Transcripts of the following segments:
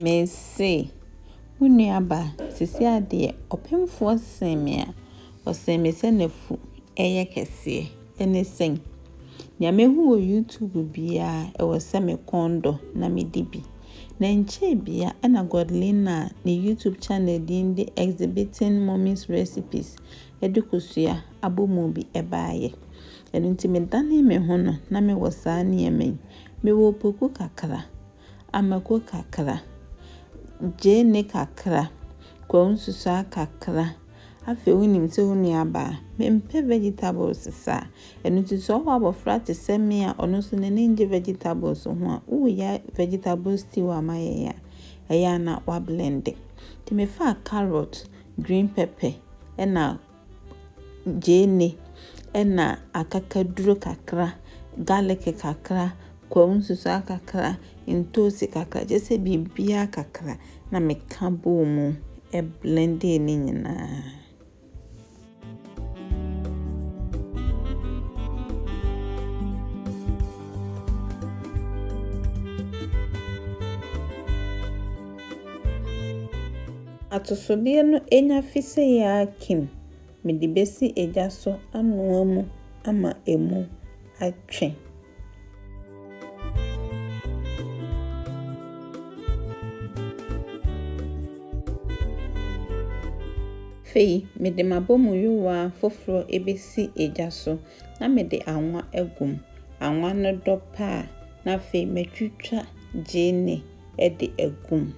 Mese wo nua ba, sisi adeɛ, ɔpemfoɔ see me a, ɔsee me sɛ n'afu yɛ kɛseɛ. Ɛne sɛn? Nea mahu wɔ YouTube biara, ɛwɔ sɛ me kɔn dɔ na medi bi. Na ɛnkyɛɛ bia ɛna Godlina a ne YouTube channel din de Exhibiting Mommy's Recipes de kosua abomu bi baeɛ. Ɛno nti medanee me ho no, na mewɔ saa nneɛma yi. Mewɔ opoku kakra. Amako kakra, gyeene kakra, kwawu nsusuaa kakra. Afei wonim sɛ wo nuabaa, mempɛ vegetables sa. Ɛno nti sɛ ɔwɔ abɔfra te sɛ me a ɔno nso n'ani nnye vegetables ho a, woreyɛ vegetable stew a mayɛ yi a, ɛyɛ a na woablende. Nti mefaa carrot, green pepper ɛna. gyeene na akakaduro kakra, garlic kakra, kwawu nsusuaa kakra, ntoosi kakra, kyerɛ sɛ biribiara kakra na meka bɔɔ mu blendee ne nyinaa. Atosodeɛ no nya fi sɛ yaa kim mede bɛsi egya so anoa mu ama ɛmu atwe. Afei mede m'abomu yowaa foforɔ bɛsi egya so na mede anwa agu mu. Anwa no dɔ pɛ a, na afei matwitwa gyeene de agu mu.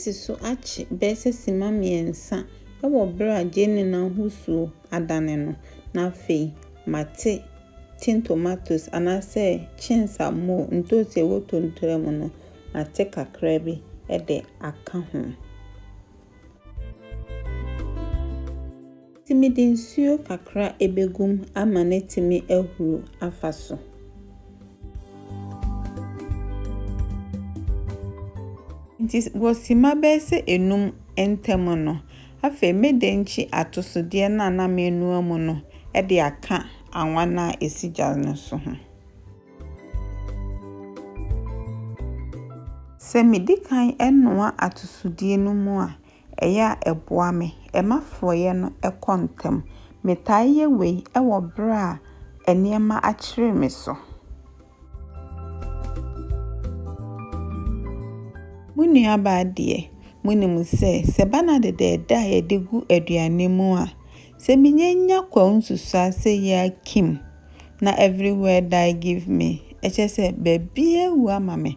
Tennessee so akye bɛyɛ sɛ simma mmiɛnsa wɔ bere a gyeene no ahosuo adane no, na afei mate tin tomatoes anaasɛ chins a mo ntoosi a ɛwɔ tontraa mu no, mate kakra bi de aka ho. Enti mede nsuo kakra bɛgu mu ama no atumi ahuro afa so. Enti wɔ simma bɛyɛ sɛ enum ntam no, afei mede nkye atosodeɛ no a na menoa mu no de aka anwa no a ɛsi gya no so ho. Sɛ medi kan noa atosodeɛ no mu a, ɛyɛ a ɛboa me. Ɛma forɔeɛ no kɔ ntɛm. Metaa yɛ wei wɔ berɛ a nneɛma akyere me so. Mo nuabaa deɛ, monim sɛ, sɛ ɛba no adedɛɛdɛ a yɛde gu aduane mu a, sɛ menya nya kwawu nsusuaa sɛ yei akim na everywhere die give me, ɛkyerɛ sɛ baabiara awu ama me.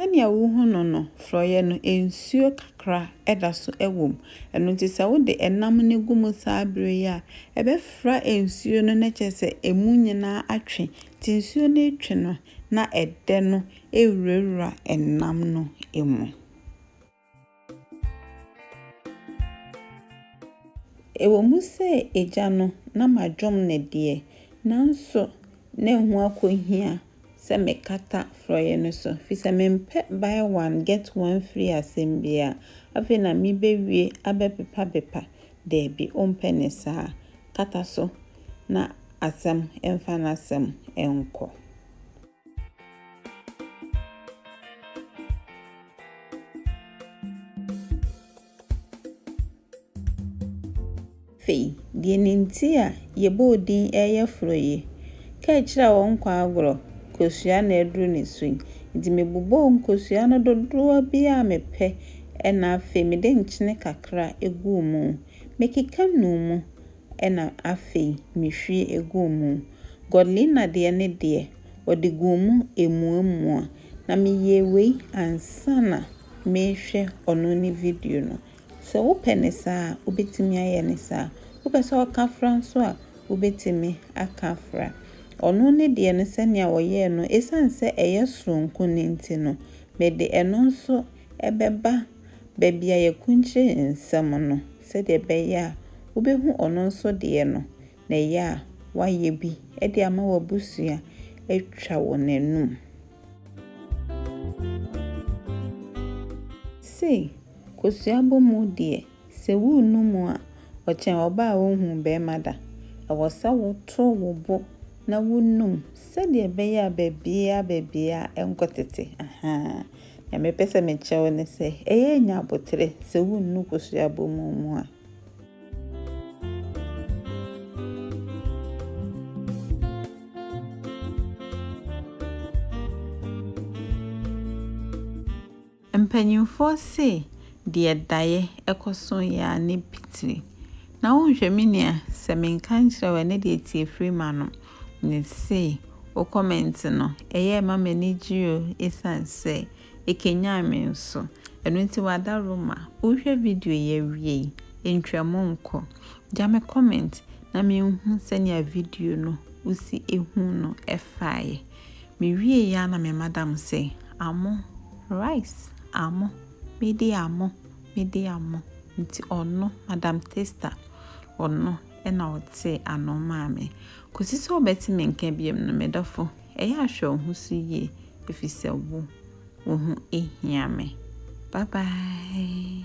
Sɛnea wuhu no no, forɔeɛ no, nsuo kakra da so wom. Ɛno nti sɛ wode nam no gu mu saa berɛ yi a, ɛbɛfra nsuo no na kyerɛ sɛ emu nyinaa atwe. Nti nsuo no retwe no na ɛdɛ no rewurawura nam no mu. Ɛwɔ mu sɛ Agya no na madwom no deɛ, nanso na ɛho akɔhia sɛ mekata forɔeɛ no so, ɛfiri sɛ mempɛ buy one get one free asɛm biara. Afei na mebɛwie abɛpepapepa, daabi, wompɛ ne saa. Kata so na asɛm mfa n'asɛm nkɔ. Afei, deɛ ne nti a yɛbɔɔ din ɛreyɛ forɔ yi, kaa akyire a wɔnkɔ agorɔ, kosua na aduru ne so yi. Nti mebobɔɔ nkosua no dodoɔ bi a mepɛ ɛna afei mede nkyene kakra guu mu. Mekeka nuu mu na afei mehwie eguu mu. Godlina deɛ ne deɛ, ɔde guu mu emuamua, na meyɛɛ wei ansa na merehwɛ ɔno ne video no. Sɛ wopɛ no saa a, wobɛtumi ayɛ no saa. Wopɛ sɛ ɔka fra nso a, wobɛtumi aka fra. Ɔno ne deɛ no sɛnea ɔyɛɛ no, ɛsiane sɛ ɛyɛ soronko no nti no, mede ɛno nso bɛba baabi a yɛakunkyire nsɛm no sɛdeɛ ɛbɛyɛ a wobɛhu ɔno nso deɛ no na ɛyɛ a wayɛ bi de ama w'abusua atwa wɔn anum. Sei, kosua bɔ mu deɛ, sɛ worennu mu a, ɔkyɛn ɔbaa a ɔnhuu barima da. Ɛwɔ sɛ woto wo bo na wonum sɛdeɛ ɛbɛyɛ a baabiara baabiara ɛnkɔtete, ahaa. Nea mepɛ sɛ mekyerɛ wo ne sɛ, ɛyɛ a nya abotere sɛ wunnu kosua abɔmu mu a. Mpanyimfoɔ se deɛ daeɛ ɛkɔ so yɛ a ne pitiri. Na wonhwɛ me nua, sɛ menka nkyerɛ wo ɛnɛ deɛ tie firi m'anom. Mese, wo comment no, ɛyɛɛ ɛma m'ani gyee o, esiane sɛ ɛkanyan me nso. Ɛno nti wada Roma, wohwɛ video yi awie yi, ntwa mu nkɔ. Gya me comment na menhu sɛnea video no wosi ehu no faeɛ. Mewie yi ara na me madam se, Amo, rice, amo, medi amo, medi amo. Nti ɔno, Madam Taster, ɔno. na ɔte ano maa me. Kɔsi sɛ ɔbɛte me nka biom no, me dɔfo, ɛyɛ a hwɛ wo ho so yie, ɛfiri sɛ wo, wo ho hia me. Bye bye.